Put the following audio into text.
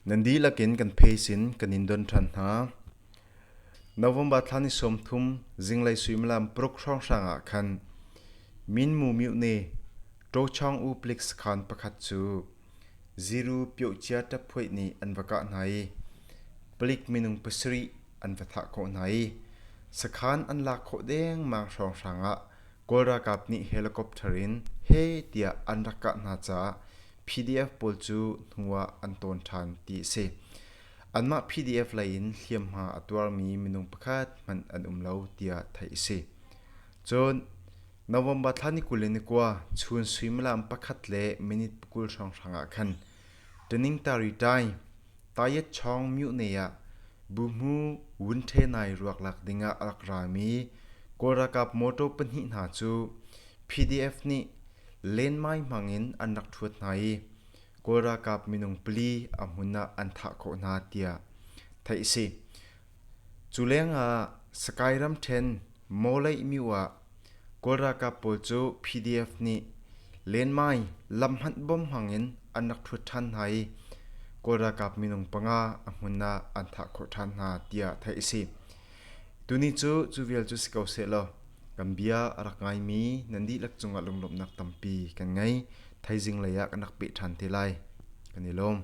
Nan dihlak in kan pheisin kan in don ṭhan hna. November thla ni sawmthum zinglei suimilam paruk hrawnghrang ah khan Minmu Myone Ṭawchawng U Plik sakhan pakhat cu Ziru Pyohcia ṭaphuaih nih an va kah hna i palik minung pasarih an va thah khawh hna i sakhan an lak khawh dengmang hrawnghrang ah Kawl ralkap nih helicopter in he tiah an rak kah hna caah PDF pawl cu hnu ah an tawn ṭhan ti a si. Anmah PDF lei in hliamhma a tuarmi minung pakhat hmanh an um lo tiah theih a si. Cun November thla ni kul le ni kua Chun suimilam pakhat le minute pakul hrawnghrang ah khan Taningtaritai Tayetchawng myuhnei ah buhmu vun ṭhenai ruak lak dingah a rak rami Kawl ralkap mawṭaw pahnih hna cu PDF nih lenmai hmangin an rak ṭhuat hna i Kawl ralkap minung pali a hmun ah an thah khawh hna tiah theih a si. Cu lengah Sakae ramṭhen Mawleih myu ah Kawl ralkap pawl cu PDF nih lenmai lam hmanh bom hmangin an rak ṭhut ṭhan hna i Kawl ralkap minung panga a hmun ah an thah khawh ṭhan hna tiah theih a si. Tuni cu cu vialte cu si ko sehlaw kan bia a rak ngaimi nan dihlak cungah lunglawmhnak tampi kan ngei. Thaizing lei ah kan rak peh ṭhan te lai. kan i lawm.